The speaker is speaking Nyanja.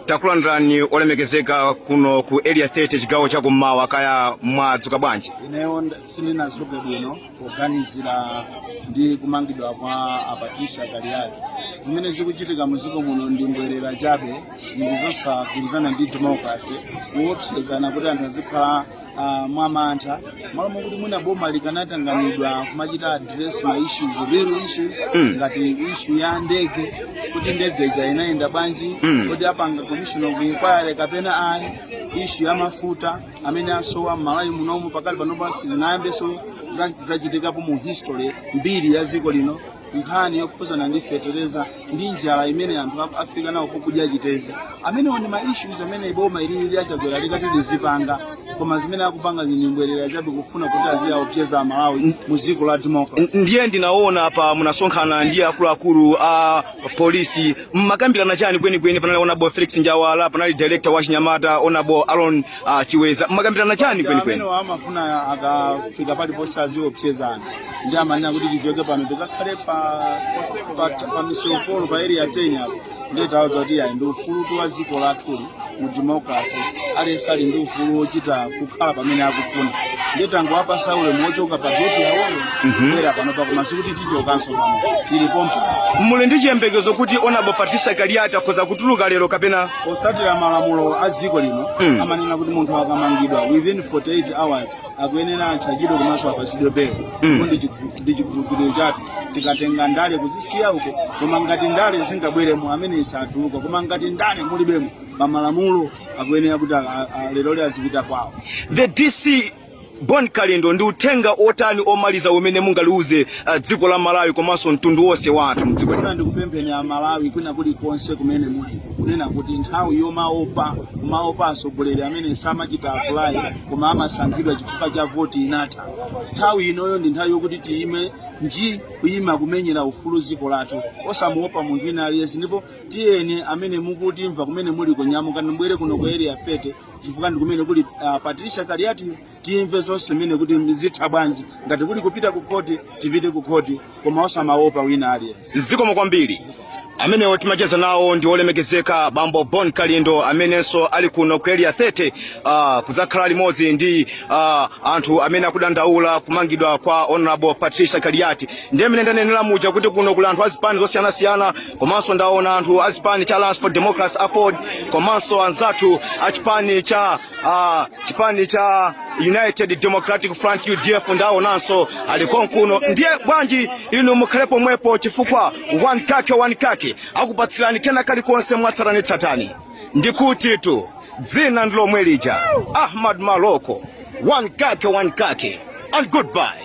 takulandirani olemekezeka kuno ku area 30 chigawo cha kummawa kaya mwadzuka bwanji ineyo nd- sindinazuke bwino poganizira ndi kumangidwa kwa a Patricia Kaliati zimene zikuchitika mdziko muno ndi mbwerera chabe zinthu zosagwirizana ndi democracy kuopsezana kuti anthu azikhala uh, mwamantha malo mokuti mwina boma likadatanganidwa kumachita address ma issues real issues mm. ngati issue ya ndege kuti ndege ija inayenda bwanji mm. kodi apanga commission of inquiry kapena ayi issue ya mafuta amene akusowa mmalawi munomu pakali pano basi sizinayambenso zachitikapo mu history mbiri ya dziko lino nkhani yokhuzana ndi fetereza ndi njala imene anthu a- afika nawo pokudya chitedze amenewo ndi ma issues amene boma ili ili a Chakwera likadati lizipanga koma zimene akupanga ndi mbwerera chabe kufuna kuti aziwaopseza amalawi mu dziko la democracy N- ndiye ndinaona apa munasonkhana ndi akuluakulu a polisi mmakambirana chani kwenikweni panali onabo felix njawala panali director wa chinyamata onabo alon uh, a Chiweza mmakambirana chani kwenikweni amenewa amafuna akafika paliponse aziopsezana ndi amanena kuti tichoke pano tikakhale pa pa, pa misewu four pa area 10 apo ndiye tawuza kuti ayi ndi ufulu wathu dziko lathuli mu democracy aliyense ali ndi ufulu wochita kukhala pamene akufuna ndiye tangowapasa ulemu wochoka pa geti yawoyo kubwera panopa koma sikuti tichokanso pano tili pompa muli ndi chiyembekezo kuti onabo patricia kaliati akhoza kutuluka lero kapena potsatira malamulo a dziko lino Mm. amanena kuti munthu akamangidwa within 48 hours akuyenera atchajidwe komanso apasidwe belo ndipo ndi chikhulu- ndi chikhulupiriro chathu tikatenga ndale kuzisiya uko koma ngati ndale zingabweremo ameneyu satuluka koma ngati ndale mulibemo pamalamulo akuyenera kuti a- a- a- leroli azipita kwawo the dc bon kalindo ndi uthenga otani omaliza umene mungaliuze uh, dziko la malawi komanso mtundu wonse wa anthu mdziko lino ndikuna ndikupempheni amalawi kwina kulikonse kumene muli kunena kuti nthawi yomaopa kumaopa atsogoleri amene sanachite apply koma amasankhidwa chifukwa cha voti inatha nthawi inoyo ndi nthawi yokuti tiyime nji kuyima kumenyera ufulu mdziko lathu osamuopa munthu wina aliyense ndipo tiyeni amene mukutimva kumene muli nyamukani mubwere kuno ku area 30 chifukwa ndi kumene kuli uh, patricia kaliati timve zonse mmene kuti zitha bwanji ngati kuli kupita ku khoti tipite ku khoti koma osamaopa wina aliyense. Zikomo kwambiri. amenewo timacheza nawo ndi olemekezeka bambo Bon Kalindo amenenso ali kuno ku area 30 uh, ah, kuzakhala limodzi ndi uh, anthu amene akudandaula kumangidwa kwa honorable Patricia Kaliati ndiye mmene ndanenera muja kuti kuno kuli anthu azipani zosiyanasiyana komanso ndaona anthu azipani cha Alliance for Democracy Aford komanso anzathu achipani cha uh, chipani cha United Democratic Front UDF ndi awonanso ali konkuno ndiye bwanji inu mukhale pomwepo chifukwa one kake one kake akupatsirani kena kalikonse mwatsatanetsatane ndikuti tu dzina ndilomwe lija Ahmad Maloko one kake one kake and goodbye